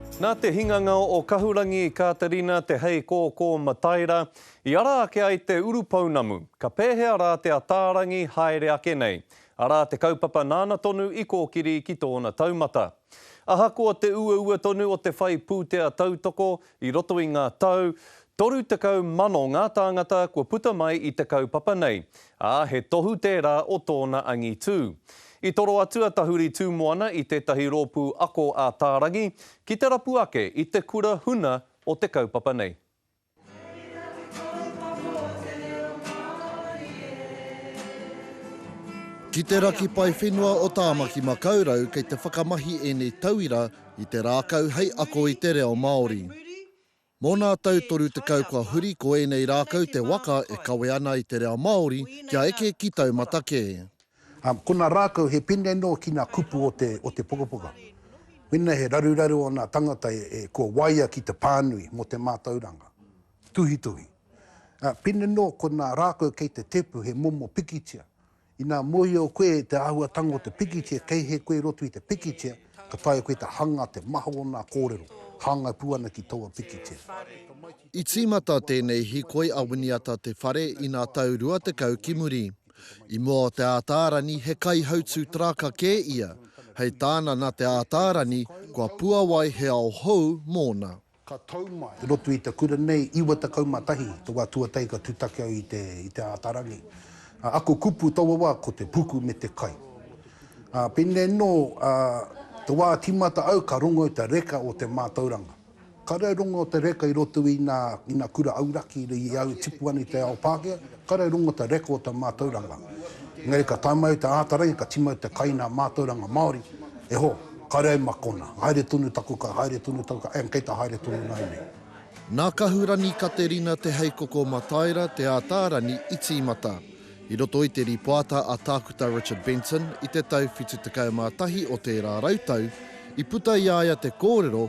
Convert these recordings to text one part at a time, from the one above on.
Nā te hinganga o Kahurangi Kāterina Te Heikōkō Mataira i ara ake ai te urupounamu, ka pēhea rā te Ataarangi haere ake nei, arā te kaupapa nāna tonu i kōkiri ki tōna taumata. Ahakoa te uaua tonu o te whai pūtea tautoko i roto i ngā tau, 30,000 ngā tāngata kua puta mai i te kaupapa nei, ā, he tohu tērā o tōna angitū. I toro atu a Tahuri Tūmoana i tētahi rōpū ako ā-tārangi ki te rapu ake i te kura huna o te kaupapa nei. Ki te raki pae whenua o Tāmaki Makaurau kei te whakamahi ēnei tauira i te rākau hei ako i te reo Māori. Mō nā tau 30 kua huri ko ēnei rākau te waka e kawe ana i te reo Māori kia eke ki taumata kē. Ko nā rākau he pēnei noa ki nā kupu o te o te pukapuka. Mēnā he raruraru o nā tangata e kua waia ki te pānui mō te mātauranga. Tuhituhi. Pēnei noa ko nā rākau kei te tepu he momo pikitia. Ina mohio koe te ahuatanga o te pikitia kei he koe roto i te pikitia, ka taea koe te hanga te maha o na korero, hangai pu ana ki toua pikitia. I tīmata tēnei hikoi a Winiata Te Whare i ngā tau rua tekau ki muri. I mua o Te Ātaarani he kaihautū taraka kē ia, hei tāna nā Te Ātaarani kua puawai he ao hou mōna. Ka tau mai, i roto i te kura nei, 91 te wa tuatai ka tutaki au i te, i te Atarangi. A, ako kupu taua wa ko te puku me te kai. A, penei no, a, te wa timata au ka rongo i te reka o te matauranga. Kare au rongo o te reka i roto i na, i na kura auraki i au e tipu ana i te ao Pakea, Kare rongo te reko o te mātauranga, engari ka tae mai te āta rangi ka timau te kai nā mātauranga Māori, e ho, kare ai ma kona, haere tonu taku kai, haere tonu taku kai, and kei ta haere tonu ngai nei. Nā Kahurani Katerina Te Heikoko Mataira Te Ātaarani i tīmata, i roto i te rīpoata a Tākuta Richard Benton i te tau 71 o tērā rautau, i puta i a ia te kōrero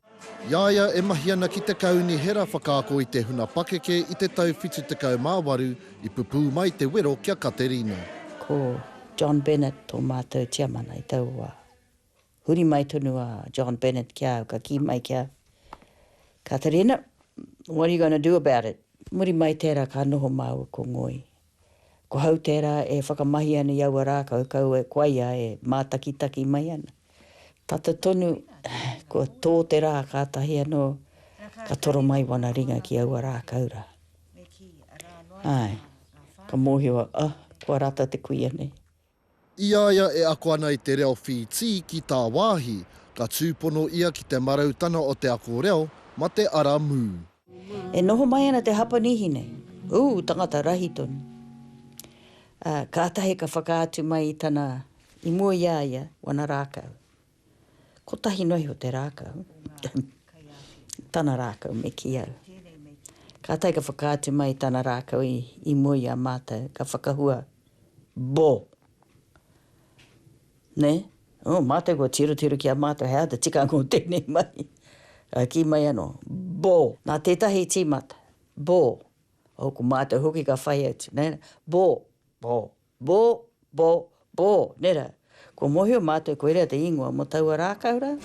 I a ia e mahi ana ki te Kaunihera whakaako i te huna pakeke i te tau 78 i pupū mai te wero ki a Katerina. Ko John Bennett tō mātou tiamana i taua wā. Huri mai tonu a John Bennett ki a au ka kī mai ki a Katerina, What are you going to do about it? Muri mai tērā ka noho māua ko Ngoi Ko hau tērā e whakamahi ana i aua rākau kau e koia e mātakitaki mai ana. Tata tonu, kua tō te rā kātahi anō ka toro mai wana ringa ki aua rākau rā. Āe, ka mōhio au, ah, kua rata te kuia nei. I a ia e ako ana i te reo Whītī ki tāwāhi, ka tūpono ia ki te marautanga o te ako reo, ma te ara mū. E noho mai ana te Hapanihi nei, ū tangata rahi tonu, ā, kātahi ka whakaatu mai i tana, i mua i a ia, wana rākau. Kotahi noa iho te rākau, tana rākau me kī au. Kātahi ka whakaatu mai tana rākau i mua i a mātou, ka whakahua, Bo! Nē? Oh, mātou kua tirotiro ki a mātou he aha te tikanga o tēnei mahi. Ka kī mai anō, Bo! Nā tētahi tīmata, Bo! Oh, ko mātou hoki ka whai atu, nē? Bo! Bo! Bo, bo, bo, nera, kua mohio matou koira te ingoa mo taua rakau ra.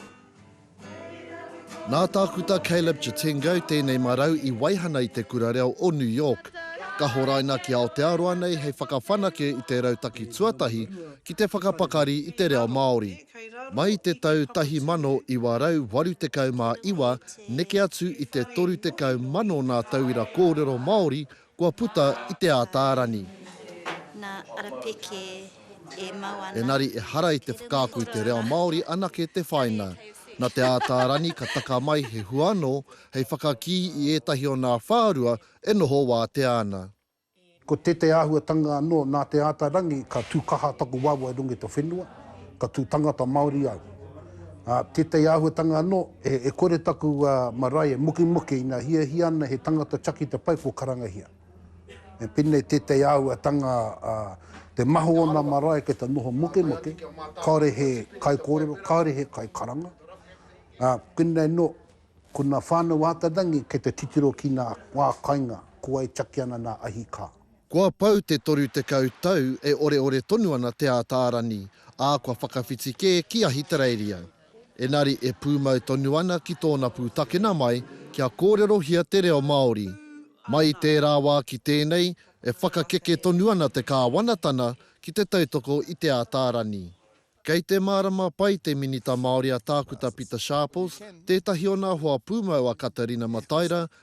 Nā Tākuta Caleb Chitengo tēnei marau i waihana i te Kura Reo o New York. Ka horaina ki Aotearoa nei hei whakawhanake i te rautaki tuatahi ki te whakapakari i te reo Māori. Mai i te tau 1989 neke atu i te 30 mano ngā tauira kōrero Māori Kua puta i te Ātaarani. Nā Arapeke e mau ana. Engari ehara i te whakaako i te reo Māori anake te whaina. Nā te Ātaarani ka taka mai he hua anō hei whakakī i ētahi o nā whārua e noho wātea ana. Ko tētahi āhuatanga anō, nā te Ātaarangi ka tū kaha taku waewae runga i te whenua, ka tū tangata Māori au. Ā, tētahi āhuatanga anō, E kore taku marae e mukimuki ina hiahia ana he tangata chakita pai ko Karangahia. Me penei teitei auatanga a te mahu ona marae ke ta noho mukimuki, kaore he kai korero, kaore he kai karanga. A penei no, ko na whanau Atarangi ke te titiro ki na wa kainga kua e chaki ana na ahi ka. Kua pau te toru tekau tau e oreore tonu ana te Ataarani, a kua whakawhiti ke ki Ahitereiria. Engari e pūmau tonu ana ki tōna pūtakena mai kia kōrerohia te reo Māori. Mai i tērā wā ki tēnei, e whakakeke tonu ana te Kāwanatana ki te tautoko i Te Ātaarani. Kei te mārama pai te Minita Māori a Tākuta Pita Sharples, tētahi o nā hoa pūmau a Katarina Mataira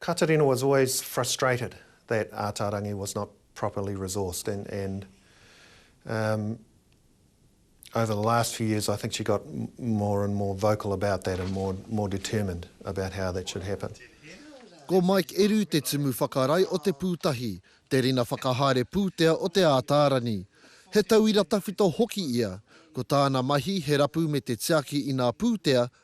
Katerina was always frustrated that Ataarangi was not properly resourced and and um over the last few years I think she got more and more vocal about that and more more determined about how that should happen. Ko Mike Eru te tumu whakarae o Te Pūtahi, te rina whakahaere pūtea o Te Ataarangi. He tauira tawhito hoki ia, ko tāna mahi he rapu me te tiaki i ngā pūtea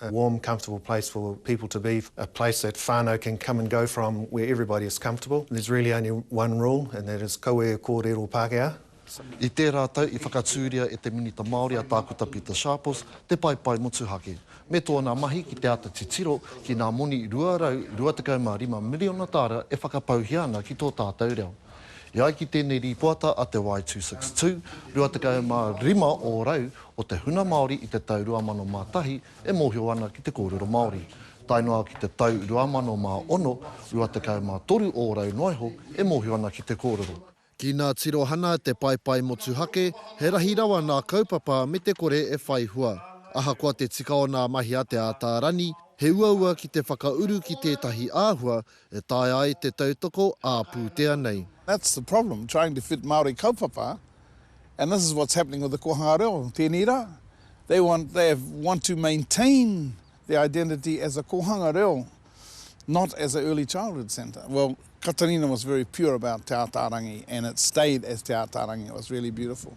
a warm comfortable place for people to be, a place that whānau can come and go from where everybody is comfortable. There's really only one rule and that is kaua e kōrero Pākehā. I tērā tau i whakatūria e te Minita Māori a Tākuta Pita Sharples te paepae motuhake me tōna mahi ki te āta titiro ki ngā moni 225 miriona tāra e whakapauhia ana ki tō tātou reo. E ai ki tēnei rīpoata a te Y262, 25 ō rau o te huna Māori i te tau 2001 e mōhio ana ki te kōrero Māori, tae noa ki te tau 2006, 23 ō rau noa iho e mōhio ana ki te kōrero. Ki ngā tirohana a te paepae motuhake, he rahi rawa ngā kaupapa me te kore e whai hua. Ahakoa te tika o ngā mahi a Te Ātaarani, he uaua ki te whakauru ki tētahi āhua E taea ai te tautoko ā pūtea nei. That's the problem, trying to fit Māori kaupapa, and this is what's happening with the kōhanga reo tēnei rā, they want, they want to maintain their identity as a kōhanga reo, not as a early childhood centre. Well, Katarina was very pure about Te Ātaarangi and it stayed as Te Ātaarangi, it was really beautiful.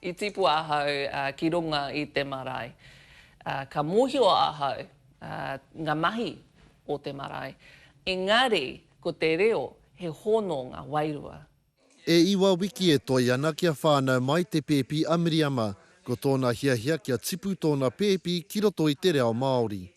I tipu ahau ki runga i te marae. Ka mohio ahau nga mahi o te marae. Engari ko te reo he hononga wairua. E iwa wiki e toe ana kia whānau mai te pēpi a Miriama, ko tōna hiahia kia tipu tōna pēpi ki roto i te reo Māori.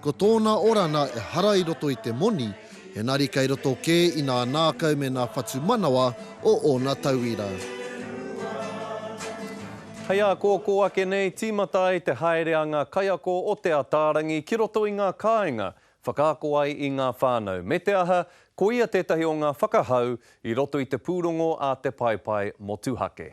Ko tōna orana ehara i roto i te moni, engari kei roto kē i nā nākau me nā whatumanawa o ōna tauira. Hei ākōkō ake nei, tīmata ai te haere a ngā kaiako o Te Ataarangi ki roto i ngā kāinga, whakaako ai i ngā whānau, me te aha, koia tētahi o ngā whakahau i roto i te pūrongo a Te Paepae Motuhake.